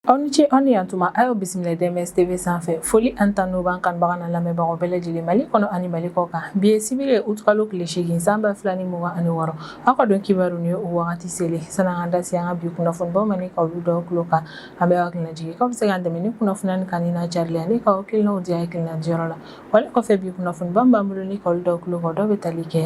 aw ni ce aw ni yan tuma a y'aw bisimila DMS tv sanfɛ foli ani tanu b'an kanubaga n'an lamɛnbagaw bɛɛ lajɛlen mali kɔnɔ ani mali kɔkan bi ye sibiri ye utukalo tile seegin san ba fila ni mugan ani wɔɔrɔ aw ka don kibaru nin ye o wagati selen sann'an ka da se an ka bi kunnafonibaw ma ni ka olu da aw tulo kan an bɛ aw hakili lajigin k'aw bɛ se k'an dɛmɛ ni kunnafoni in kanuni n'a carili ani ka aw hakilinaw di hakilina diyɔrɔ la wale kɔfɛ bi kunnafoniba min b'an bolo ni ka olu da aw tulo kan dɔw bɛ tali kɛ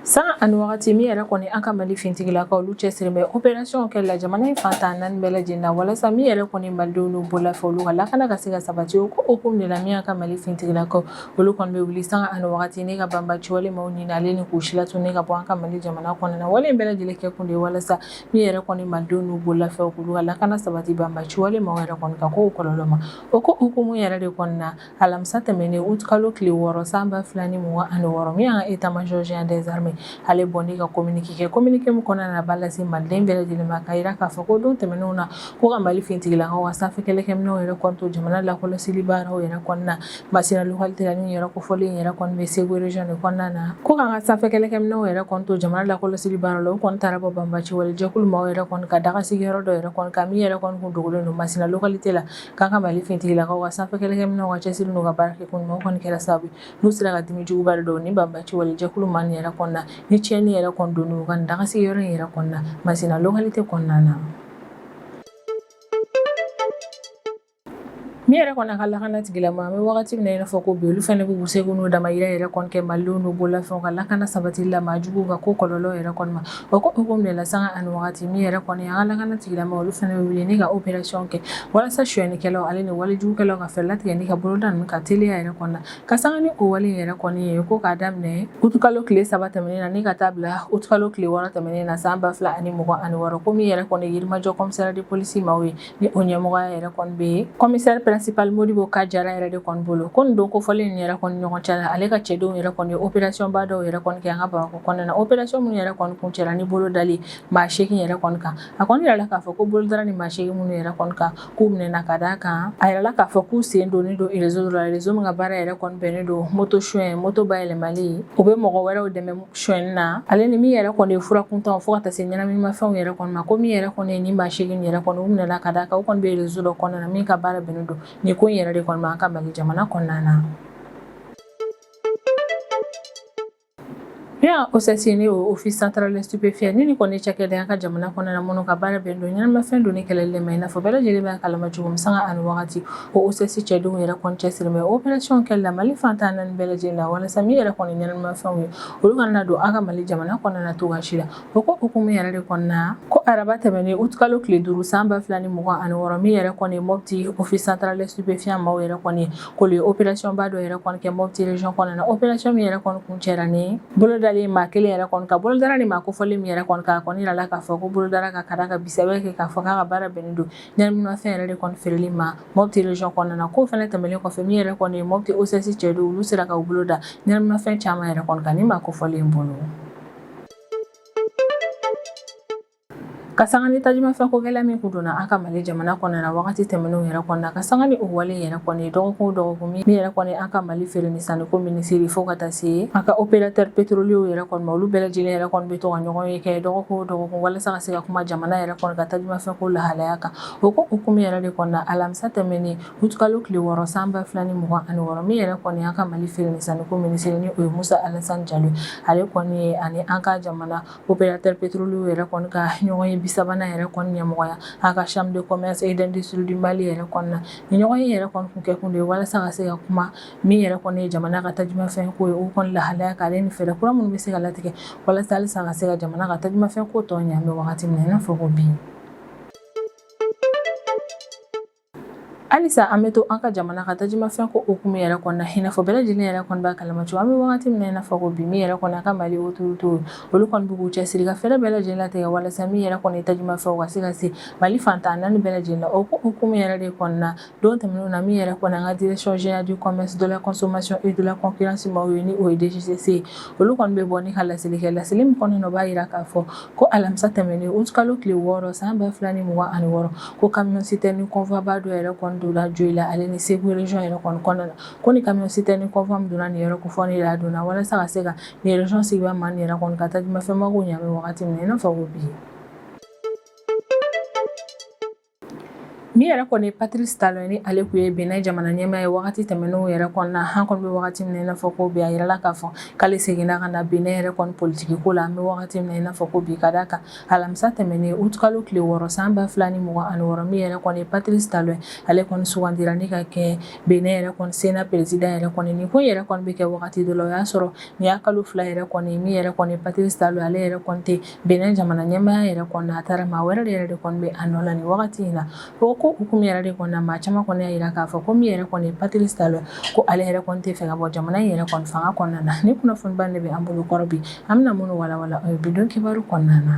Sanga ani wagati min yɛrɛ kɔni an ka mali fintigilakaw olu cɛsirilen bɛ operasiyɔn kɛ la jamana in fan tan naani bɛɛ lajɛlen na walasa min yɛrɛ kɔni malidenw n'u bololafɛnw olu ka lakana ka se ka sabati o ko hukumu de la min y'an ka mali fintigilakaw olu kɔni bɛ wuli sanga ani wagati ni ka banbaci wale maaw ɲini ale ni k'u silatunu ni ka bɔ an ka mali jamana kɔnɔna na wale in bɛɛ lajɛlen kɛ kun de walasa min yɛrɛ kɔni malidenw n'u bololafɛnw olu ka lakana sabati banbaci wale maaw yɛrɛ kɔni ka ko kɔlɔlɔ ma o ko hukumu yɛrɛ de kɔnɔna na alamisa tɛmɛnen aout kalo tile wɔɔrɔ san ba fila ni mugan ani wɔɔrɔ min y'an ka état major général des armées ale bɔ ni ka communiqué kɛ communiqué min kɔnɔna na a b'a lase maliden bɛɛ lajɛlen ma k'a jira k'a fɔ ko don tɛmɛnenw na ko an ka Mali finitigilakaw ka sanfɛ kɛlɛkɛminɛnw yɛrɛ kɔni to jamana lakɔlɔsili baaraw yɛrɛ kɔnɔna na Masina localité la nin yɔrɔ kofɔlen yɛrɛ kɔni bɛ Segu région de kɔnɔna na ko k'an ka sanfɛ kɛlɛkɛminɛnw yɛrɛ kɔni to jamana lakɔlɔsili baaraw la u kɔni taara bɔ banbaci wale jɛkulu maaw yɛrɛ kɔni ka dagasigiyɔrɔ dɔ yɛrɛ kɔni kan min yɛrɛ kɔni kun dogolen don Masina localité la k'an ka mali fintigilakaw ka sanfɛ kɛlɛkɛminɛw ka cɛsiri n'u ka baara kɛ ko ɲuman kɔni kɛra sababu n'u sera ka dimi juguba don nin banbaci wale jɛkulu maa nin yɛrɛ kɔni na ni tiɲɛni yɛrɛ kɔni don u ka dagasigiyɔrɔ in yɛrɛ kɔnɔna masina localité kɔnɔna na min yɛrɛ kɔni y'an ka lakana tigilamaaw an bɛ wagati min na i n'a fɔ ko bi olu fana b'u seko n'u damayira yɛrɛ kɔni kɛ malidenw n'u bololafɛnw ka lakana sabatili la maajuguw ka ko kɔlɔlɔ yɛrɛ kɔni O ko hukumu de la sanga ani waati min yɛrɛ kɔni an ka lakana tigilamaaw olu fana bɛ wuli ni ka operasiyɔn kɛ walasa suɲɛnikɛlaw ale ni walejugukɛlaw ka fɛɛrɛ latigɛ ni ka bolo da ninnu kan teliya yɛrɛ kɔni na ka sanga ni o wale yɛrɛ kɔni ye ko k'a daminɛ utukalo tile saba tɛmɛnen na ni ka taa bila utukalo tile wɔɔrɔ tɛmɛnen na san ba fila ani mugan ani wɔɔrɔ ko min yɛrɛ kɔni yirimajɔ komisariya de polisi maaw ye ni o ɲɛmɔgɔya yɛrɛ kɔni bɛ kɔmisɛri pɛrɛnsipali modibo ka jara yɛrɛ de kɔni bolo ko nin don kofɔlen nin yɛrɛ kɔni ɲɔgɔn cɛ la ale ka cɛdenw yɛrɛ kɔni operasiyɔnba dɔw yɛrɛ kɔni kɛ an ka bamakɔ kɔnɔna na operasiyɔn minnu yɛrɛ kɔni kuncɛla ni bolo dali maa seegin yɛrɛ kɔni kan a kɔni yirala k'a fɔ ko bolo dara nin maa seegin minnu yɛrɛ kɔni kan k'u minɛna ka d'a kan a yirala k'a fɔ k'u sen donnen don rezo la rezo min ka baara yɛrɛ kɔni bɛnnen don moto suɲɛ moto bayɛlɛmali u bɛ mɔgɔ wɛrɛw dɛmɛ Suɲɛni na ale ni min yɛrɛ kɔni ye fura kuntanw fo ka taa se ɲɛnaminimafɛnw yɛrɛ kɔni ma ko min yɛrɛ kɔni ye nin maa seegin in yɛrɛ kɔni u minɛna ka d'a kan u kɔni bɛ réseau dɔ kɔnɔna na min ka baara bɛnnen don nin ko in yɛrɛ de kɔni ma an ka Mali jamana kɔnɔna na. Bien OCS n'o Office Central des Stupéfiants ni nin kɔni ye cakɛda ye an ka jamana kɔnɔna na minnu ka baara bɛnnen don ɲɛnaminimafɛn donni kɛlɛli de ma i n'a fɔ bɛɛ lajɛlen b'a kalama cogo min sanga ani wagati ko OCS cɛdenw yɛrɛ kɔni cɛsiri bɛ opération kɛli la mali fantan naani bɛɛ lajɛlen la walasa min yɛrɛ kɔni ɲɛnaminimafɛnw ye olu kana don an ka mali jamana kɔnɔna cogo si la o ko hukumu yɛrɛ de kɔnɔna ko araba tɛmɛnen utkalo tile duuru san ba fila ni mugan ani wɔɔrɔ min yɛrɛ kɔni mɔpiti office central des stupéfiants maaw yɛrɛ kɔni k'u ye opération ba dɔ yɛrɛ kɔni kɛ mɔpiti region kɔnɔna opération min yɛrɛ kɔni kuncɛra ni bolodali maa kelen yɛrɛ kɔni kan bolo dara nin maa kofɔlen min yɛrɛ kɔni kan a kɔni jirala k'a fɔ ko bolo dara a kan ka d'a kan bisɛ kɛ k'a fɔ a ka baara bɛnnen don ɲɛnaminimafɛn yɛrɛ de kɔni feereli ma mɔpiti region kɔnɔna na ko fɛnɛ tɛmɛlen kɔfɛ min yɛrɛ kɔni ye mɔpiti OCS cɛdenw olu sera ka u bolo da ɲɛnaminimafɛn caman yɛrɛ kɔni kan nin maa kofɔlen bolo ka sanga ni tajumafɛn ko gɛlɛya min kun donna an ka mali jamana kɔnɔna na wagati tɛmɛnenw yɛrɛ kɔnɔna ka sanga ni o wale yɛrɛ kɔni dɔgɔkun o dɔgɔkun min yɛrɛ kɔni an ka mali feere ni sanniko minisiri fo ka taa se an ka opérateur pétrolier yɛrɛ kɔni ma olu bɛɛ lajɛlen yɛrɛ kɔni bɛ to ka ɲɔgɔnye kɛ dɔgɔkun o dɔgɔkun walasa se ka kuma jamana yɛrɛ kɔni ka tajumafɛn ko lahalaya kan o ko hukumu yɛrɛ de kɔnɔ alamisa tɛmɛnen utkalo tile wɔɔrɔ san ba fila ni mugan ani wɔɔrɔ min yɛrɛ kɔni an ka mali feere ni sanniko minisiri ni o ye musa alasani jalo ale kɔni ye ani an ka jamana opérateur pétrolier yɛrɛ kɔni ka ɲɔgɔnye bi sabanan yɛrɛ kɔni ɲɛmɔgɔya an ka chambre de commerce et d'industrie du mali yɛrɛ kɔnɔna na nin ɲɔgɔnye yɛrɛ kɔni kɛ kun de ye walasa ka se ka kuma min yɛrɛ kɔni ye jamana ka tajumafɛn ko ye o kɔni lahalaya kan ale ni fɛɛrɛ kura minnu bɛ se ka latigɛ walasa halisa ka se ka jamana ka tajumafɛn ko tɔ ɲɛ an bɛ wagati min na i n'a fɔ ko bi halisa an bɛ to an ka jamana ka tajumafɛn ko hukumu yɛrɛ kɔnɔna i n'a fɔ bɛɛ lajɛlen yɛrɛ kɔni b'a kalama cogo an bɛ wagati min na i n'a fɔ ko bi min yɛrɛ kɔni an ka mali autorité olu kɔni b'u cɛsiri ka fɛɛrɛ bɛɛ lajɛlen latigɛ walasa min yɛrɛ kɔni tajumafɛnw ka se ka se mali fantan naani bɛɛ lajɛlen o ko hukumu yɛrɛ de kɔnɔna Don tɛmɛnenw na min yɛrɛ kɔni an ka direction générale du commerce, de la consommation et de la concurrence maaw ye ni o ye DGCC ye, olu kɔni bɛ bɔ ni ka laseli kɛ, laseli min kɔnɔna na u b'a jira k'a fɔ ko alamisa tɛmɛnen aout kalo tile wɔɔrɔ san 2026 ko camion citerne convoi ba dɔ yɛrɛ kɔni donna Joyila ale ni Segu region yɛrɛ kɔni kɔnɔna na, ko ni camion citerne convoi min donna nin yɔrɔ kofɔlen in na, a donna walasa ka se ka nin region sigibaa maa nin yɛrɛ kɔni ka tajumafɛn mako ɲɛ an bɛ wagati min na i n'a fɔ ko bi. Min yɛrɛ kɔni ye Patirisi Talɔn ye ni ale kun ye Bɛnɛ jamana ɲɛmaa ye wagati tɛmɛnenw yɛrɛ kɔnɔna na, an kɔni bɛ wagati min na i n'a fɔ ko bi, a jirala k'a fɔ k'ale seginna ka na Bɛnɛ yɛrɛ kɔni politiki ko la, an bɛ wagati min na i n'a fɔ ko bi, ka d'a kan alamisa tɛmɛnen aout kalo tile wɔɔrɔ san 2026 min yɛrɛ kɔni ye Patirisi Talɔn ye, ale kɔni sugandira ni ka kɛ Bɛnɛ yɛrɛ kɔni sena peresidan yɛrɛ kɔni ye, nin ko in yɛrɛ kɔni bɛ kɛ wagati dɔ la, o y'a sɔrɔ nin y'a kalo fila yɛrɛ kɔni ye min yɛrɛ kɔni ye Patirisi Talɔn ye ale yɛrɛ kɔni tɛ Bɛnɛ jamana ɲɛmaaya yɛrɛ kɔnɔ a taara maa wɛrɛ yɛrɛ de kɔni bɛ a nɔ la ni wagati in na o ko hukumu yɛrɛ de kɔnɔ maa caman kɔni y'a jira k'a fɔ ko min yɛrɛ kɔni Patirisi Talɔn ko ale yɛrɛ kɔni t'a fɛ ka bɔ jamana in yɛrɛ kɔni fanga kɔnɔna na nin kunnafoniba de bɛ an bolokɔrɔ bi an bɛna minnu walawala bi don kibaru kɔnɔna na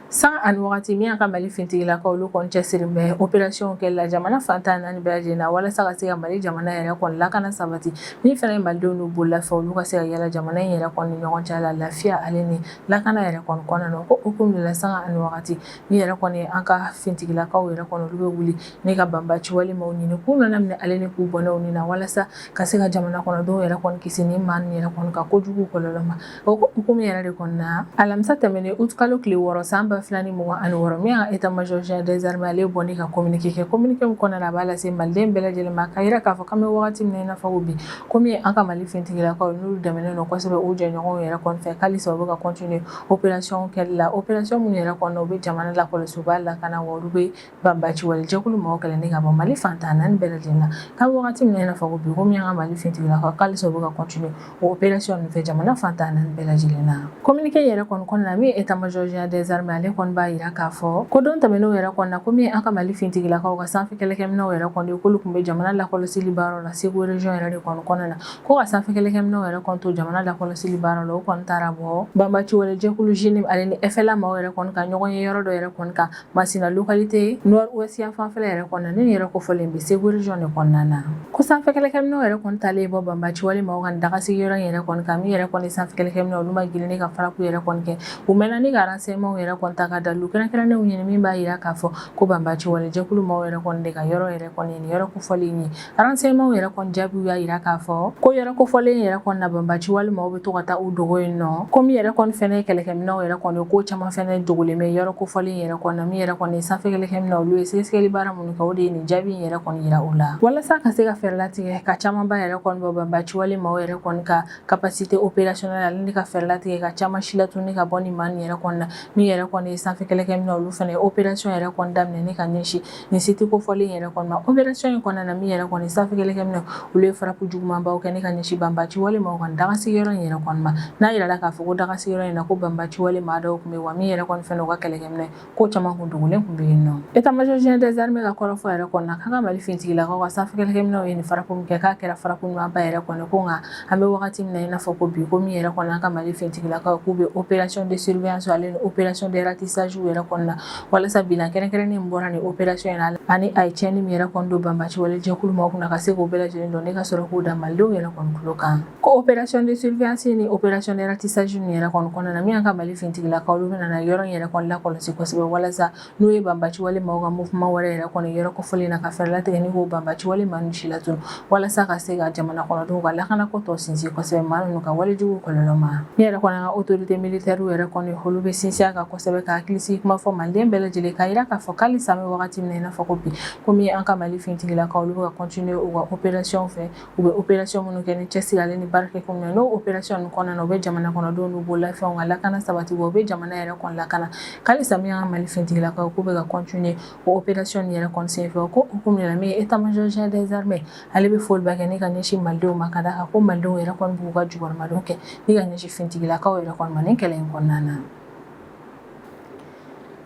Sanga ani wagati min y'an ka mali fintigilakaw olu kɔni cɛsirilen bɛ opération kɛli la jamana fan tan naani bɛɛ lajɛlen na walasa ka se ka mali jamana yɛrɛ kɔni lakana sabati min fana ye malidenw n'u bololafɛnw olu ka se ka yaala jamana in yɛrɛ kɔni ɲɔgɔn cɛ la lafiya ale ni lakana yɛrɛ kɔni kɔnɔna na k'o hukumu de la sanga ani wagati min yɛrɛ kɔni an ka fintigilakaw yɛrɛ kɔni olu bɛ wuli ne ka banbaciwale maaw ɲini k'u ɲanama minɛ ale ni k'u bɔnɛ u ni na walasa ka se ka jamana kɔnɔdenw yɛrɛ kɔni kisi nin maa yɛrɛ kɔni ka kojugu kɔlɔlɔ ma O hukumu yɛrɛ de kɔnɔna na, alamisa tɛmɛnen août kalo tile wɔɔrɔ san 2026 min y'an ka état major général des armées ale bɔlen ka communiqué kɛ, communiqué min kɔnɔna na, a b'a lase maliden bɛɛ lajɛlen ma, k'a jira k'a fɔ k'an bɛ wagati min na, i n'a fɔ ko bi, ko min ye an ka Mali finitigilakaw, n'olu dɛmɛnen don kosɛbɛ u jɛɲɔgɔnw yɛrɛ kɔni fɛ, halisa u bɛ ka continuer opération kɛli la, opération minnu yɛrɛ kɔnɔna na, u bɛ jamana lakɔlɔsi, u b'a lakana wa olu bɛ Banbaciwalejɛkulu mɔgɔw kɛlɛ ka bɔ mali fantan naani bɛɛ lajɛlen na k'an bɛ waati min na i n'a fɔ ko bi ko min y'an ka mali fintigilakaw ko halisa u bɛ ka continuer opération ninnu fɛ jamana fantan naani bɛɛ lajɛlen na communiqué yɛrɛ kɔnɔna na min ye état major général des armées ale kɔni b'a jira k'a fɔ ko don tɛmɛnen yɛrɛ kɔnɔna na ko min an ka mali fintigilakaw ka sanfɛ kɛlɛkɛminɛw yɛrɛ kɔni k'olu tun bɛ jamana lakɔlɔsili baara la Segu région yɛrɛ de kɔni kɔnɔna na ko ka sanfɛ kɛlɛkɛminɛw yɛrɛ kɔni to jamana lakɔlɔsili baara la o kɔni taara bɔ banbaciwalejɛkulu JNIM ale ni FLA maaw yɛrɛ kɔni ka ɲɔgɔnye yɔrɔ dɔ yɛrɛ kan Masina localité nord ouest yan fanfɛla yɛrɛ kɔnɔna nin yɔrɔ kofɔlen bɛ Segu région de kɔnɔna na ko sanfɛ kɛlɛkɛminɛw yɛrɛ kɔni taalen bɔ banbaci wale maaw ka dagasigi yɔrɔ in yɛrɛ kɔni kan min yɛrɛ kɔni sanfɛ kɛlɛkɛminɛw olu ma girin ne ka frappe yɛrɛ kɔni kɛ u mɛnna ni ka renseignements yɛrɛ kɔni ta ka dalilu kɛrɛnkɛrɛnnenw ɲini min b'a jira k'a fɔ ko banbaci walejɛkulu maaw yɛrɛ kɔni de ka yɔrɔ yɛrɛ kɔni nin yɔrɔ kofɔlen in ye Renseignements yɛrɛ kɔni jaabiw y'a jira k'a fɔ ko yɔrɔ kofɔlen yɛrɛ kɔni na banbaci wale maaw bɛ to ka taa u dogo yen nɔ ko min yɛrɛ kɔni fɛnɛ kɛlɛkɛminɛw yɛrɛ kɔni ko caman fɛnɛ dogolen bɛ yɔrɔ kofɔlen yɛrɛ kɔnɔ min yɛrɛ kɔni sanfɛ kɛlɛkɛminɛ olu ye sɛgɛsɛgɛli baara minnu kɛ o de ye nin jaabi in yɛrɛ kɔni yira u la walasa ka se ka fɛɛrɛ latigɛ ka camanba yɛrɛ kɔni bɔ banbaci wale maaw yɛrɛ kɔni ka capacité opérationnelle ale ni ka fɛɛrɛ latigɛ ka caman si latunu ka bɔ nin maa nin yɛrɛ kɔni na min yɛrɛ kɔni ye sanfɛ kɛlɛkɛminɛ olu fɛnɛ ye opération yɛrɛ kɔni daminɛ ni ka ɲɛsin nin site kofɔlen yɛrɛ kɔni ma opération in kɔnɔna na min yɛrɛ kɔni sanfɛ kɛlɛkɛminɛw olu ye frappe jugumanbaw kɛ ne ka ɲɛsin banbaci wale maaw ka dagasigi yɔrɔ in yɛrɛ kɔni ma n'a jirala k'a fɔ ko dagasigi yɔrɔ in na ko banbaci wale maa dɔw tun bɛ wa min yɛrɛ kɔni fɛnɛ u ka kɛlɛkɛminɛ ko caman kun dogolen tun bɛ yen nɔ état major général des armées ka kɔrɔfɔ yɛrɛ kɔni na k'an ka mali fintigilakaw ka sanfɛ kɛlɛkɛminɛw ye nin frappe min kɛ k'a kɛra frappe ɲumanba yɛrɛ kɔni ko nka an bɛ wagati min na i n'a fɔ ko bi ko min yɛrɛ kɔni an ka mali fintigilakaw k'u bɛ opération de surveillance ale ni opération de ratissage yɛrɛ kɔnɔna na walasa bilan kɛrɛnkɛrɛnnen min bɔra nin opération in na ani a ye cɛnni min yɛrɛ kɔni don banbaci wale jɛkulu maaw kunna ka se k'o bɛɛ lajɛlen dɔn ne ka sɔrɔ k'o da malidenw yɛrɛ kɔni tulo kan ko opération de surveillance ni opération de ratissage nin yɛrɛ kɔni kɔnɔna na min an ka mali fintigilakaw olu bɛna yɔrɔ in yɛrɛ kɔni lakɔlɔsi kosɛbɛ walasa n'u ye banbaci wale maaw ka mouvement wɛrɛ yɛrɛ kɔni yɔrɔ kofɔlen na ka fɛɛrɛ latigɛ ni k'o banbaci wale maaw si latun walasa ka se ka jamana kɔnɔdenw ka lakana ko tɔ sinsin kosɛbɛ maa ninnu ka walejugu kɔlɔlɔ ma ne yɛrɛ kɔni an ka autorité militaire yɛrɛ kɔni olu bɛ sinsin a kan kosɛbɛ ka hakilisigi kuma fɔ maliden bɛɛ lajɛlen k'a yira k'a fɔ k'alisa an bɛ wagati min na i n'a fɔ ko bi komi an ka mali fintigilakaw olu bɛ ka continuer u ka opération fɛ u bɛ opération minnu kɛ ni cɛsiri ale ni baara kɛ ko min na n'o opération ninnu kɔnɔna na u bɛ jamana kɔnɔdenw n'u bololafɛnw ka lakana sabati wa u bɛ jamana yɛrɛ kɔni lakana k'alisa min ye an ka mali fintigilakaw k'u bɛ ka continuer O opération nin yɛrɛ kɔni senfɛ o hukumu de la min ye état major général des armées ale bɛ foliba kɛ ni ka ɲɛsin Malidenw ma ka d'a kan ko Malidenw yɛrɛ kɔni b'u ka jukɔrɔmadon kɛ ni ka ɲɛsin finitigilakaw yɛrɛ kɔni ma nin kɛlɛ in kɔnɔna na.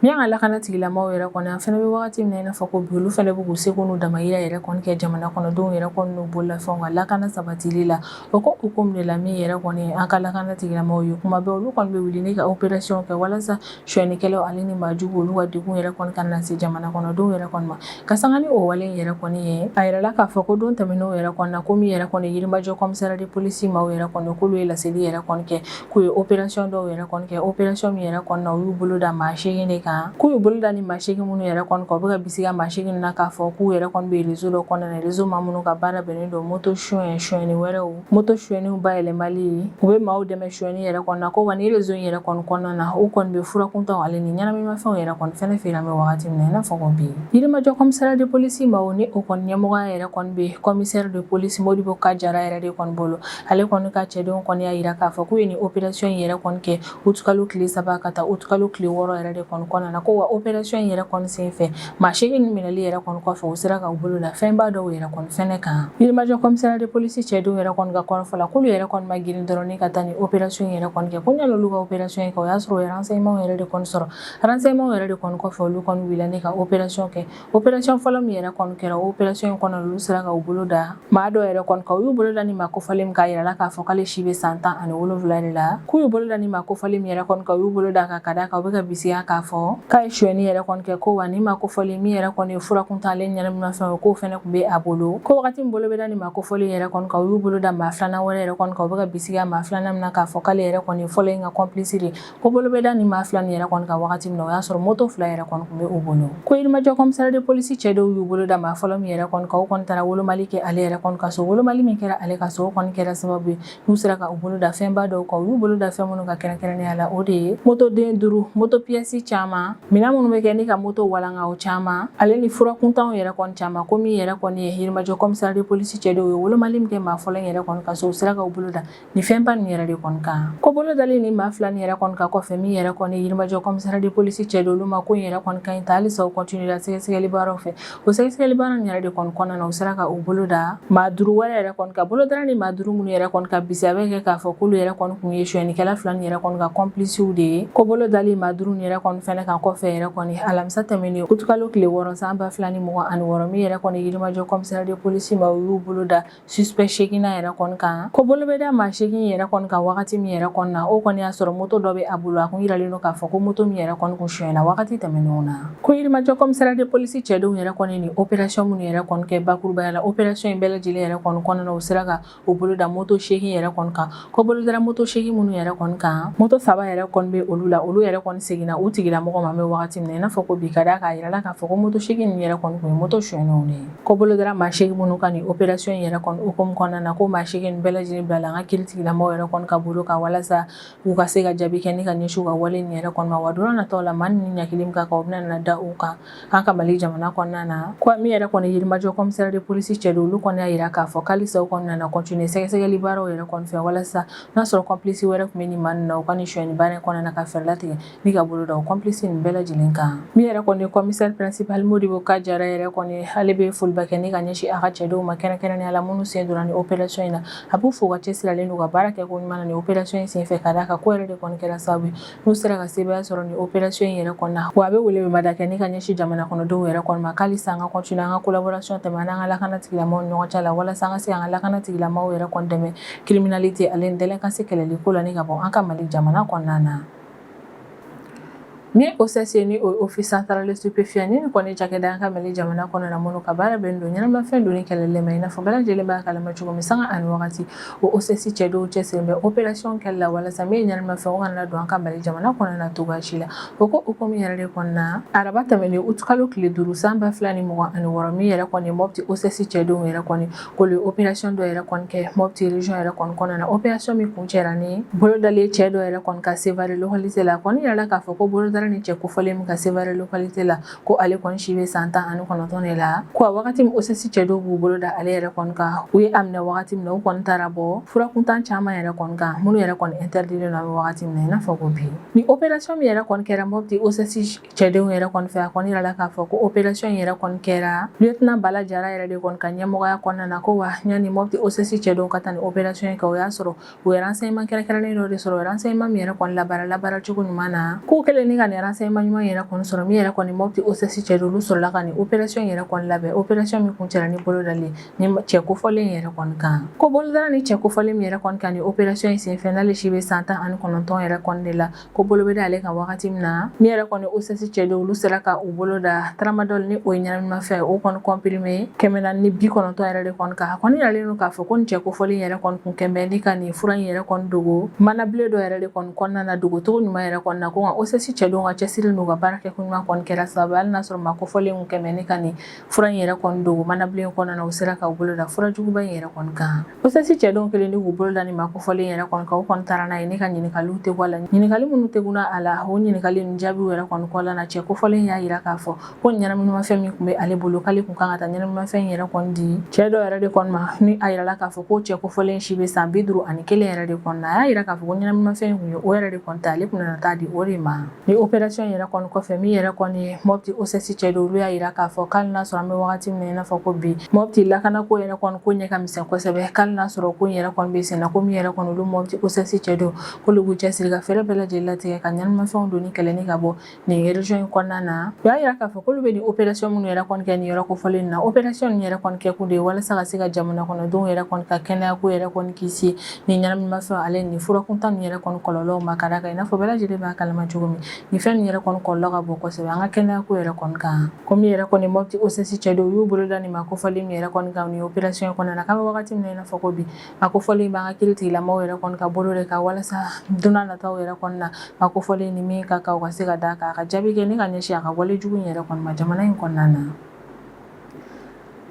Min ka lakana tigilamɔgɔw yɛrɛ kɔni an fɛnɛ bɛ wagati min na i n'a fɔ ko bi olu fɛnɛ bɛ k'u seko n'u damayira yɛrɛ kɔni kɛ jamana kɔnɔdenw yɛrɛ kɔni n'u bololafɛnw ka lakana sabatili la o ko hukumu de la min yɛrɛ kɔni an ka lakana tigilamɔgɔw ye kuma bɛɛ olu kɔni bɛ wuli ni ka opération kɛ walasa suyɛnnikɛlaw ale ni maajugu olu ka degun yɛrɛ kɔni kana se jamana kɔnɔdenw yɛrɛ kɔni ma ka sanga ni o wale in yɛrɛ kɔni ye a yirala k'a fɔ ko don tɛmɛnenw yɛrɛ kɔnɔ na ko min yɛrɛ kɔni yirimajɔ kɔmisariya de polisi maaw yɛrɛ kɔni k'olu ye laseli yɛrɛ kɔni kɛ k'u ye operasiyɔn dɔw yɛrɛ kɔni kɛ operasiyɔn min yɛrɛ kɔnɔ na u y'u bolo da maa seegin de kan k'u y'u bolo da ni maa seegin minnu yɛrɛ kɔni kan u bɛ ka bisiga maa seegin na k'a fɔ k'u yɛrɛ kɔni bɛ rezo dɔ kɔnɔna na rezo maa minnu ka baara bɛnnen don moto suyɛn suyɛnni wɛrɛw moto suyɛniw bayɛlɛmali u bɛ maaw dɛmɛ suyɛni yɛrɛ kɔnɔna ko wa ni rezo in yɛrɛ kɔni kɔnɔna na u kɔni bɛ fura kuntanw ale ni ɲɛnaminimafɛnw yɛrɛ kɔni fɛnɛ feere an bɛ wagati min na i n'a fɔ ko bi yirimajɔ kɔmisariya de polisi maaw ni o kɔni ɲɛmɔgɔya yɛrɛ kɔni bɛ kɔmisɛri de polisi modibo ka jara yɛrɛ de kɔni bolo ale kɔni ka cɛdenw kɔni y'a yira k'a fɔ k'u ye ni operasiyɔn in yɛrɛ kɔni kɛ utukalo tile saba ka taa utukalo tile wɔɔrɔ yɛrɛ de kɔni kɔnɔna na ko wa operasiyɔn in yɛrɛ kɔni senfɛ maa seegin nin minɛli yɛrɛ kɔni kɔfɛ u sera ka u bolo da fɛnba dɔw yɛrɛ kɔni fɛnɛ kan yirimajɔ kɔmisariya de polisi cɛdenw yɛrɛ kɔni ka kɔrɔfɔ la k'olu yɛrɛ kɔni ma girin dɔrɔn ni ka taa ni operasiyɔn in yɛrɛ kɔni kɛ ko ɲan'olu ka operasiyɔn in kɛ o y'a sɔrɔ u ye ransɛyimanw yɛrɛ de kɔni sɔrɔ ransɛyimanw yɛrɛ de kɔni kɔfɛ olu kɔni wulila ni ka operasiyɔn kɛ operasɔn fɔlɔ min yɛrɛ kɔni kɛra operasɔn in kɔnɔ olu sera ka u bolo da maa dɔ yɛrɛ kɔni kan u y'u bolo da ni maa kofɔlen min kan a yirala k'a fɔ k'ale si bɛ san tan ani wolonwula de la k'u y'u bolo da ni maa kofɔlen min yɛrɛ kɔni kan u y'u bolo d'a kan ka d'a kan u bɛ ka bisiga k'a fɔ k'a ye suyɛni yɛrɛ kɔni kɛ ko wa ni maa kofɔlen min yɛrɛ kɔni ye fura kuntan ale ni ɲɛnaminimafɛn ye k'o fɛnɛ tun bɛ a bolo ko wagati min bolo bɛ da ni maa kofɔlen yɛrɛ kɔni kan u y'u bolo da maa filanan wɛrɛ yɛrɛ kɔni kan u bɛ ka bisiga maa filanan min na k'a fɔ k'ale yɛrɛ kɔni ye fɔlɔ in ka kɔnpilisi de ko bolo bɛ da ni maa fila nin yɛrɛ kɔni kan wagati min na o y'a sɔrɔ moto fila yɛrɛ kɔni tun bɛ u bolo ko yirimajɔ kɔmisariya de polisi cɛdenw y'u bolo da maa fɔlɔ min yɛrɛ kɔni kan u kɔni taara wolomali kɛ ale yɛrɛ kɔni ka so wolomali min kɛra ale ka so o kɔni kɛra sababu ye n'u sera ka u bolo da fɛnba dɔw kan u y'u bolo da fɛn minnu kan kɛrɛnkɛrɛnnenya la o de ye motoden duuru moto piyɛsi caman minɛn minnu bɛ kɛ ni ka moto walanga o caman ale ni fura kuntanw yɛrɛ kɔni caman ko min yɛrɛ kɔni ye yirimajɔ kɔmisariya de polisi cɛdenw ye wolomali min kɛ maa fɔlɔ yɛrɛ kɔni ka so u sera ka u bolo da Nin fɛn ba nin yɛrɛ de kɔni kan ko bolo dalen ni maa fila nin yɛrɛ kɔni kan kɔfɛ min yɛrɛ kɔni yirimajɔ commissariat de police cɛdenw olu ma ko in yɛrɛ kɔni ka ɲi ta halisa u continuer la sɛgɛsɛgɛli baaraw fɛ o sɛgɛsɛgɛli baara yɛrɛ de kɔni kɔnɔna na u sera ka u bolo da maa duuru wɛrɛ yɛrɛ kɔni kan bolo dara nin maa duuru minnu yɛrɛ kɔni kan bisigiya bɛ kɛ k'a fɔ k'olu yɛrɛ kɔni tun ye suyɛnnikɛla fila nin yɛrɛ kɔni ka complicew de ye ko bolo dalen maa duuru yɛrɛ kɔni fana kan kɔfɛ yɛrɛ kɔni alamisa tɛmɛnen utukalo tile wɔɔrɔ san ba fila ni mugan ani wɔɔrɔ min yɛrɛ kɔni yirimajɔ commissariat de police maaw y'u bolo da suspect seeginnan yɛrɛ kɔni kan ko bolo bɛ da maa seegin yɛrɛ kɔni kan wagati min yɛrɛ kɔni na o kɔni y'a sɔrɔ moto dɔ bɛ a bolo a kun yiralen don k'a fɔ ko moto min yɛrɛ kɔni kun sonyɛna wagati tɛmɛnenw na ko yirimajɔ commissariat de police cɛdenw yɛrɛ kɔni nin opération minnu yɛrɛ kɔni kɛ bakurubaya la opération in bɛɛ lajɛlen yɛrɛ kɔni kɔnɔna u sera ka u bolo da moto seegin yɛrɛ kɔni kan ko bolo dara moto seegin minnu yɛrɛ kɔni kan moto saba yɛrɛ kɔni bɛ olu la olu yɛrɛ kɔni seginna u tigilamɔgɔ ma an bɛ wagati min na i n'a fɔ ko bi ka d'a kan a yirala k'a fɔ ko moto seegin ninnu yɛrɛ kɔni tun ye moto sonyɛnenw de ye ko bolo dara maa seegin minnu kan nin opération yɛrɛ kɔni hukumu kɔnɔna na ko maa seegin bɛɛ lajɛlen bilala an ka kiiri tigilamɔgɔ yɛrɛ kɔni ka bolo kan walasa u ka se ka jaabi kɛ ni ka ɲɛsin u ka wale nin yɛrɛ kɔni ma wa don nataw la maa ninnu ɲangili min ka kan u bɛna na da u kan An ka Mali jamana kɔnɔna na ko min yɛrɛ kɔni yirimajɔ commissariat de police cɛdenw olu kɔni y'a jira k'a fɔ ko halisa u kɔni nana continuer sɛgɛsɛgɛli baaraw yɛrɛ kɔni fɛ walasa n'a sɔrɔ complice wɛrɛ tun bɛ nin maa ninnu na u ka nin sonyani baara in kɔnɔna na ka fɛɛrɛ latigɛ ni ka bolo da o complice ninnu bɛɛ lajɛlen kan min yɛrɛ kɔni ye commissaire principal Modibo K Jara yɛrɛ kɔni ale bɛ foliba kɛ ni ka ɲɛsin a ka cɛdenw ma kɛrɛnkɛrɛnnenya la minnu sen donna nin opération in na a b'u fo u ka cɛsiri la n'u ka baara kɛko ɲuman na nin opération in senfɛ ka d'a kan k'o yɛrɛ de kɔni kɛra sababu ye n'u sera ka sebaaya sɔrɔ nin opération in yɛrɛ kɔnɔna na wa a bɛ weleweleda kɛ ni ka ɲɛsin jamana kɔnɔdenw yɛrɛ kɔni ma ko halisa an ka continuer an ka collaboration tɛmɛ an n'an ka lakana tigilamɔgɔw ni ɲɔgɔn cɛ la walasa an ka se an ka lakana tigilamɔgɔw yɛrɛ kɔni dɛmɛ criminalité ale ni délinquance kɛlɛli ko la ni ka bɔ an ka Mali jamana kɔnɔna na ni OCS ye ni o ye Office central des stupéfiants ni nin kɔni cakɛda an ka Mali jamana kɔnɔ na minnu ka baara bɛnnen don ɲɛnamafɛn donni kɛlɛli ma i n'a fɔ bɛɛ lajɛlen b'a kalama cogo min sanga ani wagati O OCS cɛdenw cɛsirilen bɛ opération kɛli la walasa min ye ɲɛnamafɛn o kana don an ka mali jamana kɔnɔna na cogo si la o ko hukumu yɛrɛ de kɔnɔna na araba tɛmɛnen utukalo tile duuru san ba fila ni mugan ani wɔɔrɔ min yɛrɛ kɔni Mopti OCS cɛdenw yɛrɛ kɔni ko opération dɔ yɛrɛ kɔni kɛ Mopti région yɛrɛ kɔnɔna na opération min kuncɛra ni bolo dali cɛ dɔ yɛrɛ kɔni kan Sevare localité la kɔni yirala k'a fɔ ko bolo dara nin cɛ kofɔlen min kan Sevare localité la ko ale kɔni si bɛ san tan ani kɔnɔntɔn de la ko a wagati min OCS cɛdenw b'u bolo da ale yɛrɛ kɔni kan u ye a minɛ wagati min na u kɔni taara bɔ fura kuntan caman yɛrɛ kɔni kan minnu yɛrɛ kɔni interdilen an bɛ wagati min na i n'a fɔ ko bi nin opération min yɛrɛ kɔni kɛra Mopti OCS cɛdenw yɛrɛ kɔni fɛ a kɔni yirala k'a fɔ ko opération in yɛrɛ kɔni kɛra lieutenant Bala Jara yɛrɛ de kɔni ka ɲɛmɔgɔya kɔnɔna na ko wa yanni Mopti OCS cɛdenw ka taa nin opération in kɛ o y'a sɔrɔ U ye renseignement kɛrɛnkɛrɛnnen dɔ de sɔrɔ u ye renseignement min yɛrɛ kɔni labaara labaara cogo ɲuman na k'u kɛlen ni ka nin renseignement ɲuman yɛrɛ kɔni sɔrɔ min yɛrɛ kɔni Mopti OCS cɛdenw sɔrɔla ka nin opération yɛrɛ kɔni labɛn opération min kuncɛra ni bolodali nin cɛ kofɔlen yɛrɛ kɔni kan ko bolo dara nin cɛ kofɔlen min yɛrɛ kɔni kan ni opération in senfɛ n'ale si bɛ san tan ani kɔnɔntɔn yɛrɛ kɔni de la ko bolo bɛ da ale kan wagati min na min yɛrɛ kɔni OCS cɛdenw olu sera ka u bolo da tramadol ni o ye ɲɛnaminimafɛn o kɔni comprimé kɛmɛ naani ni bi kɔnɔntɔn yɛrɛ de kɔni kan a kɔni yiralen don k'a fɔ ko nin cɛ kofɔlen yɛrɛ kɔni kun kɛmɛ ni ka nin fura in yɛrɛ kɔni dogo manabilen dɔ yɛrɛ de kɔni kɔnɔna na dogocogo ɲuman yɛrɛ kɔni na ko nka OCS cɛdenw ka cɛsiri n'u ka baara kɛko ɲuman kɔni kɛra sababu hali n'a sɔrɔ maa kofɔlen kun kɛmɛ ni ka nin fura in yɛrɛ kɔni dogo manabilen kɔnɔna na u sera ka bolo da fura juguba in yɛrɛ kɔni kan OCS cɛdenw kɛlen ni k'u bolo da nin maa kofɔlen yɛrɛ kɔni kan u kɔni taara n'a ye ni ka ɲininkaliw tɛ bɔ a la ɲininkali minnu teguna a la o ɲininkali ninnu jaabiw yɛrɛ kɔni kɔla na cɛ kofɔlen y'a yira k'a fɔ ko ɲɛnaminimafɛn min kun bɛ ale bolo k'ale kun kan ka taa ɲɛnaminimafɛn in yɛrɛ kɔni di cɛ dɔ yɛrɛ de kɔni ma ni a yirala k'a fɔ ko cɛ kofɔlen si bɛ san bi duru ani kelen yɛrɛ de kɔni na a y'a yira k'a fɔ ko ɲɛnaminimafɛn in kun ye o yɛrɛ de kɔni ta ale kun nana taa di o de ma Nin opération yɛrɛ kɔni kɔfɛ min yɛrɛ kɔni ye Mopti OCS cɛdenw olu y'a yira k'a fɔ k'ali n'a sɔrɔ an bɛ wagati min na i n'a fɔ ko bi Mopti lakanako yɛrɛ kɔni ko ɲɛ ka misɛn kosɛbɛ k'ali n'a sɔrɔ ko in yɛrɛ kɔni bɛ senna ko min yɛrɛ kɔni olu Mopti OCS cɛdenw k'olu b'u cɛsiri ka fɛɛrɛ bɛɛ lajɛlen latigɛ ka ɲɛnaminimafɛnw donni kɛlɛ ni ka bɔ nin région in kɔnɔna na u y'a yira k'a fɔ k'olu bɛ nin opération minnu yɛrɛ kɔni kɛ nin yɔrɔ kofɔlen na opération yɛrɛ kɔni kɛ kun de ye walasa ka se ka jamana kɔnɔdenw yɛrɛ kɔni ka kɛnɛya ko yɛrɛ kɔni kisi nin ɲɛnaminimafɛn ale nin fura kuntan nin yɛrɛ kɔni kɔlɔlɔw ma ka da kan i n'a fɔ bɛɛ lajɛlen b'a kalama cogo min nin fɛn nin yɛrɛ kɔni kɔlɔlɔ ka bon kosɛbɛ an ka kɛnɛyako yɛrɛ kɔni kan ko min yɛrɛ kɔni Mopti OCS cɛdenw y'u bolo da nin maa kofɔlen min yɛrɛ kɔni kan nin opération in kɔnɔna na k'an bɛ wagati min na i n'a fɔ ko bi maa kofɔlen b'an ka kiiritigɛlamɔgɔw yɛrɛ kɔni ka bolo de kan walasa don nataw yɛrɛ kɔni na maa kofɔlen ni min ka kan u ka se ka d'a kan a ka jaabi kɛ ni ka ɲɛsin a ka wale jugu in yɛrɛ kɔni ma jamana in kɔnɔna na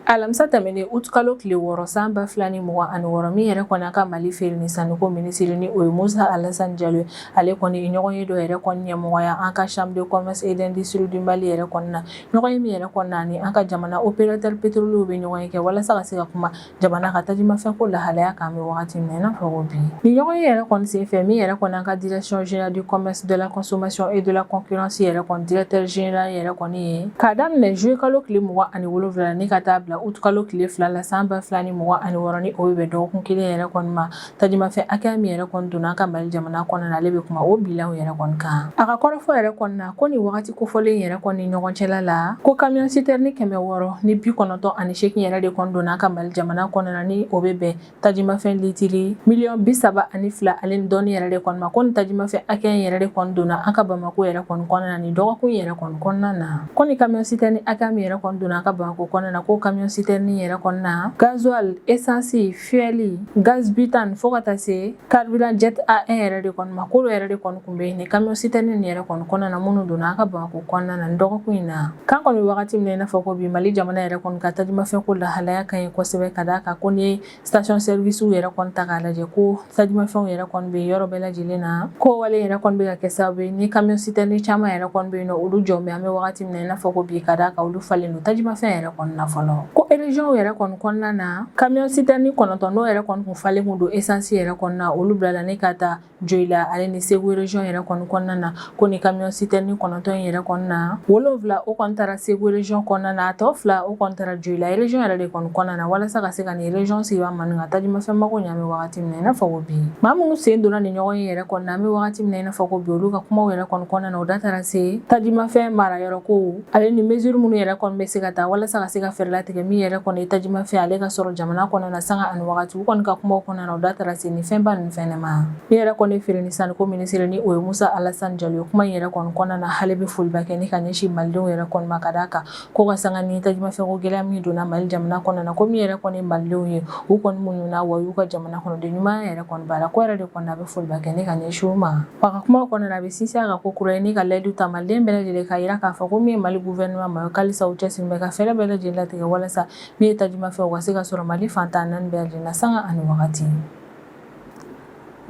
alamisa tɛmɛnen utukalo tile wɔɔrɔ san ba fila ni mugan ani wɔɔrɔ min yɛrɛ kɔni an ka Mali feere ni sanniko minisiri ni o ye Musa Alasan Jalo ye ale kɔni ye ɲɔgɔn ye dɔ yɛrɛ kɔni ɲɛmɔgɔya an ka chambre de commerce et d'industrie du Mali yɛrɛ kɔni na ɲɔgɔn ye min yɛrɛ kɔni na ni an ka jamana opérateur pétrolierw bɛ ɲɔgɔn ye kɛ walasa ka se ka kuma jamana ka tajimafɛnko lahalaya kan an bɛ wagati min na i n'a fɔ ko bi nin ɲɔgɔn ye yɛrɛ kɔni sen fɛ min yɛrɛ kɔni an ka direction générale du commerce de la consommation et de la concurrence yɛrɛ kɔni directeur général yɛrɛ kɔni ye k'a daminɛ juillet kalo tile mugan ani wolonfila la ni ka taa bila août kalo tile fila la san ba fila ni mugan ani wɔɔrɔ ni o bɛ bɛn dɔgɔkun kelen yɛrɛ kɔni ma Tajimafɛn hakɛya min yɛrɛ kɔni donna an ka Mali jamana kɔnɔna na ale bɛ kuma o bilanw yɛrɛ kɔni kan. A ka kɔrɔfɔ yɛrɛ kɔni na ko nin wagati kofɔlen in yɛrɛ kɔni ni ɲɔgɔn cɛla la ko camion citerne kɛmɛ wɔɔrɔ ni bi kɔnɔntɔn ani seegin yɛrɛ de kɔni donna an ka Mali jamana kɔnɔna na ni o bɛ bɛn tajimafɛn litiri miliyɔn bi saba ani fila ale ni dɔɔni yɛrɛ de kɔni ma ko nin tajimafɛn hakɛya in yɛrɛ de kɔni donna an ka Bamako yɛrɛ kɔni kɔnɔna na nin dɔgɔkun yɛrɛ kɔni kɔnɔna na ko nin camion citerne hakɛya min yɛrɛ kɔni donna an ka Bamako kɔnɔna na ko camion citerne yɛrɛ kɔnɔna gasoil essence fuel gaz butane fo ka taa se carburant jet A1 yɛrɛ de kɔni ma k'olu yɛrɛ de kɔni tun bɛ nin camion citerne nin yɛrɛ kɔni kɔnɔna na minnu donna an ka Bamakɔ kɔnɔna na nin dɔgɔkun in na k'an kɔni bɛ wagati min na i n'a fɔ ko bi Mali jamana yɛrɛ kɔni ka tajimafɛnko lahalaya ka ɲi kosɛbɛ ka d'a kan ko n'i ye station service yɛrɛ kɔni ta k'a lajɛ ko tajimafɛnw yɛrɛ kɔni bɛ yɔrɔ bɛɛ lajɛlen na ko wale yɛrɛ kɔni bɛ ka kɛ sababu ye ni camion citerne caman yɛrɛ kɔni bɛ yen n'olu jɔlen bɛ an bɛ wagati min na i n'a fɔ ko bi ka d'a kan olu falen don tajimafɛn yɛrɛ kɔni na fɔlɔ ko région yɛrɛ kɔni kɔnɔna na kamiyɔn sitɛrɛni kɔnɔntɔn n'o yɛrɛ kɔni kun falen kun don esansi yɛrɛ kɔni na olu bilala ni ka taa joyila ale ni segu region yɛrɛ kɔni kɔnɔna na ko ni kamiyɔn sitɛrɛni kɔnɔntɔn in yɛrɛ kɔnɔna na wolonfila o kɔni taara segu region kɔnɔna na a tɔ fila o kɔni taara joyila region yɛrɛ de kɔni kɔnɔna na walasa ka se ka nin region sigibaa maa nin ka tajimafɛn mago ɲɛ an bɛ wagati min na i n'a fɔ ko bi maa minnu sen donna nin ɲɔgɔnye yɛrɛ kɔnɔna an bɛ wagati min na i n'a fɔ ko bi olu ka kumaw yɛrɛ kɔni kɔnɔna na o da taara se tajimafɛn marayɔrɔ ko ale ni mesure minnu yɛrɛ kɔni bɛ se ka ta walasa ka se ka fɛɛrɛ latigɛ min yɛrɛ kɔni ye tajimafɛn ale ka sɔrɔ jamana kɔnɔna na sanga ani wagati u kɔni ka kumaw kɔnɔna na u da taara se nin fɛnba ninnu fɛnɛ ma min yɛrɛ kɔni feere ni sanniko minisiri ni o ye musa alasan jalo ye kuma in yɛrɛ kɔni kɔnɔna na ale bɛ foliba kɛ ni ka ɲɛsin malidenw yɛrɛ kɔni ma ka d'a kan ko ka sanga ni tajimafɛnko gɛlɛya min donna mali jamana kɔnɔna na ko min yɛrɛ kɔni malidenw ye u kɔni muɲuna wa u y'u ka jamana kɔnɔden ɲuman yɛrɛ kɔni baara ko yɛrɛ de kɔni a bɛ foliba kɛ ni ka ɲɛsin u ma A ka kuma kɔnɔna na, a bɛ sinsin a kan kokura ye ni ka layidu ta Maliden bɛɛ lajɛlen k'a jira k'a fɔ ko min ye Mali gouvernement maaw ko halisa u cɛsirilen bɛ ka fɛɛrɛ bɛɛ lajɛlen latigɛ walasa min ye tajimafɛn o ka se ka sɔrɔ Mali fan tan naani bɛɛ lajɛlen na sanga ani wagati.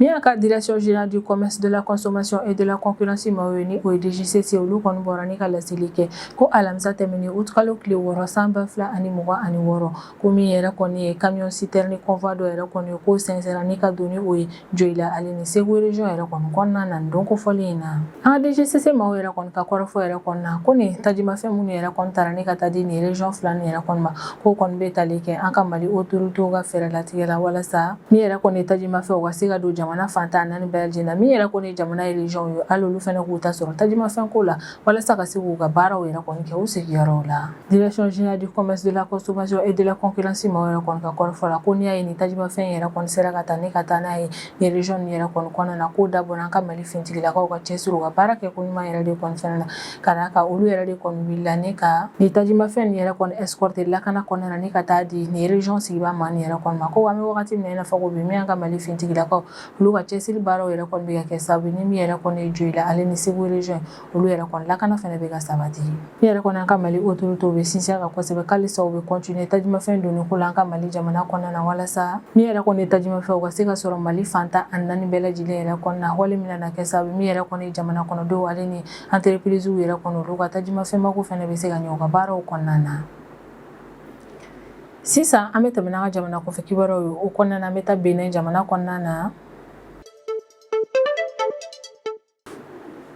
Min y'an ka Direction Generale du Commerce, de la Consommation et de la Concurrence maaw ye ni o ye DGCC ye, olu kɔni bɔra ni ka laseli kɛ ko alamisa tɛmɛnen août kalo tile wɔɔrɔ san 2026 ko min yɛrɛ kɔni ye kamiyɔn sitɛrɛni convoi dɔ yɛrɛ kɔni ye k'o sɛnsɛnra ni ka don ni o ye joyila ale ni segu rezyɔn yɛrɛ kɔni kɔnɔna na don kofɔlen in na an ka DGCC maaw yɛrɛ kɔni ka kɔrɔfɔ yɛrɛ kɔnɔna na ko nin tajimafɛn minnu yɛrɛ kɔni taara ni ka taa di nin rezyɔn fila nin yɛrɛ kɔni ma k'o kɔni bɛ tali kɛ an ka mali autorité ka fɛɛrɛ latigɛ la walasa min yɛrɛ kɔni tajimafɛn o ka se ka don jamana fan tan naani bɛɛ lajɛlen na min yɛrɛ kɔni jamana rezyɔnw ye hali olu fana k'u ta sɔrɔ tajimafɛn ko la walasa ka se k'u ka baaraw yɛrɛ kɔni kɛ u sigiyɔrɔw la direction générale du commerce de la consommation et de la concurrence maaw yɛrɛ kɔni ka kɔrɔfɔ la ko n'i y'a ye nin tajimafɛn yɛrɛ kɔni sera ka taa ni ka taa n'a ye nin region nin yɛrɛ kɔni kɔnɔna na k'o dabɔra an ka mali finitigilakaw ka cɛsiri u ka baarakɛko ɲuman yɛrɛ de kɔni fɛnɛ na ka d'a kan olu yɛrɛ de kɔni wulila ni ka nin tajimafɛn nin yɛrɛ kɔni escorter lakana kɔnɔna na ni ka taa di nin region sigibaa maa nin yɛrɛ kɔni ma ko an bɛ wagati min na i n'a fɔ ko bi min y'an ka mali finitigilakaw olu ka cɛsiri baaraw yɛrɛ kɔni bɛ ka kɛ sababu ye ni min yɛrɛ kɔni ye joyila ale ni segu region olu yɛrɛ kɔni lakana fana bɛ ka sabati min yɛrɛ kɔni an ka mali autorité bɛ sinsin kan kosɛbɛ halisa u bɛ continuer tajimafɛn donni ko la an ka mali jamana kɔnɔna na walasa min yɛrɛ kɔni ye tajimafɛn u ka se ka sɔrɔ mali fan tan ani naani bɛɛ lajɛlen yɛrɛ kɔnɔna na wale min na kɛ sababu min yɛrɛ kɔni jamana kɔnɔdenw ale ni entreprise yɛrɛ kɔni olu ka tajimafɛn mako fana bɛ se ka ɲɛ u ka baaraw kɔnɔna na Sisan an bɛ tɛmɛ n'an ka jamana kɔfɛ kibaruyaw ye o kɔnɔna na an bɛ taa Benin jamana kɔnɔna na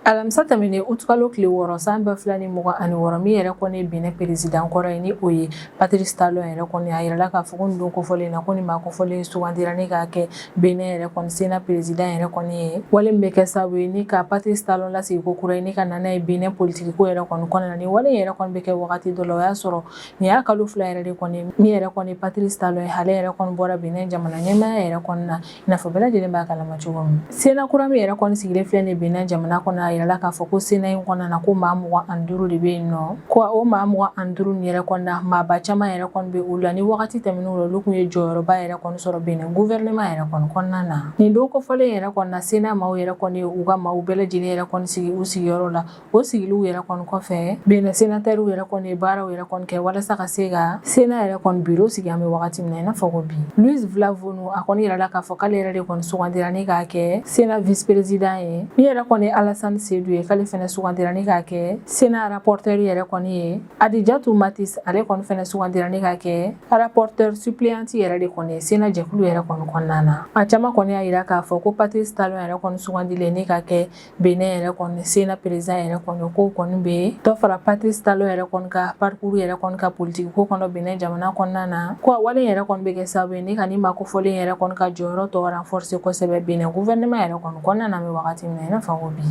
alamisa tɛmɛnen utukalo tile wɔɔrɔ san ba fila ni mugan ani wɔɔrɔ min yɛrɛ kɔni ye Benin peresidan kɔrɔ ye ni o ye Patrice Talon yɛrɛ kɔni a yirala k'a fɔ ko nin don kofɔlen na ko nin maa kofɔlen sugandira ni k'a kɛ Benin yɛrɛ kɔni Sena peresidan yɛrɛ kɔni ye wale min bɛ kɛ sababu ye ni ka Patrice Talon lasigi ko kura ye ni ka na n'a ye Benin politikiko yɛrɛ kɔni kɔnɔna na nin wale yɛrɛ kɔni bɛ kɛ wagati dɔ la o y'a sɔrɔ nin y'a kalo fila yɛrɛ de kɔni min yɛrɛ kɔni patrice talon ye ale yɛrɛ kɔni bɔra benin jamana ɲɛmaaya yɛrɛ kɔni na i n'a fɔ bɛɛ lajɛlen b'a kalama cogo min sena kura min yɛrɛ kɔni sigilen filɛ nin benin jamana kɔnɔ a yirala k'a fɔ ko sena in kɔnɔna na ko maa mugan ani duuru de bɛ yen nɔ ko o maa mugan ani duuru nin yɛrɛ kɔni na maaba caman yɛrɛ kɔni bɛ u la ni wagati tɛmɛnenw la olu tun ye jɔyɔrɔba yɛrɛ kɔni sɔrɔ benin guvɛrɛnɛma yɛrɛ kɔni kɔnɔna na nin don kofɔlen yɛrɛ kɔni na sena maaw yɛrɛ kɔni u ka maaw bɛɛ lajɛlen yɛrɛ kɔni sigi u sigiyɔrɔ la o sigiliw yɛrɛ kɔni kɔfɛ benin senatɛriw yɛrɛ kɔni ye baaraw yɛrɛ kɔni kɛ walasa ka se ka sena yɛrɛ kɔni biro sigi an bɛ wagati min na i n'a fɔ ko bi louis vlavonou a kɔni yirala k'a fɔ k'ale yɛrɛ de kɔni sugandira ni k'a kɛ sena vice-président ye min yɛrɛ kɔni ye alasani sedu ye k'ale fɛnɛ sugandira ni k'a kɛ sena rapporteur yɛrɛ kɔni ye adijatu matis ale kɔni fɛnɛ sugandira ni k'a kɛ rapporteur suppléante yɛrɛ de kɔni ye sena jɛkulu yɛrɛ kɔni kɔnɔna na a caman kɔni y'a yira k'a fɔ ko patrice talon yɛrɛ kɔni sugandilen ni k'a kɛ Benin yɛrɛ kɔni sena peresidan yɛrɛ kɔni ko kɔni bɛna dɔ fara patrice talon yɛrɛ kɔni ka parcours yɛrɛ kɔni ka politiki ko kɔnɔ benin jamana kɔnɔna na ko wale yɛrɛ kɔni bɛ kɛ sababu ye ni ka nin maa kofɔlen yɛrɛ kɔni ka jɔyɔrɔ tɔ renforcer kosɛbɛ benin gouvernement yɛrɛ kɔni kɔnɔna na an bɛ wagati min na i n'a fɔ ko bi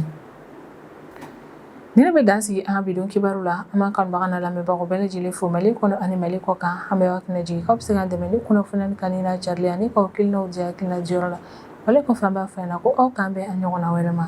ne bɛ dan sigi an ka bidon kibaru la an b'an kanubagaw n'an lamɛnbagaw bɛɛ lajɛlen fo mali kɔnɔ ani mali kɔkan an b'aw hakili jigin k'aw bɛ se k'an dɛmɛ ni kunnafoni kanuni n'a carili ani k'aw hakilinaw di hakilina diyɔrɔ la wale kɔfɛ an b'a f'aw ɲɛ na ko aw k'an bɛn a ɲɔgɔnna wɛrɛ ma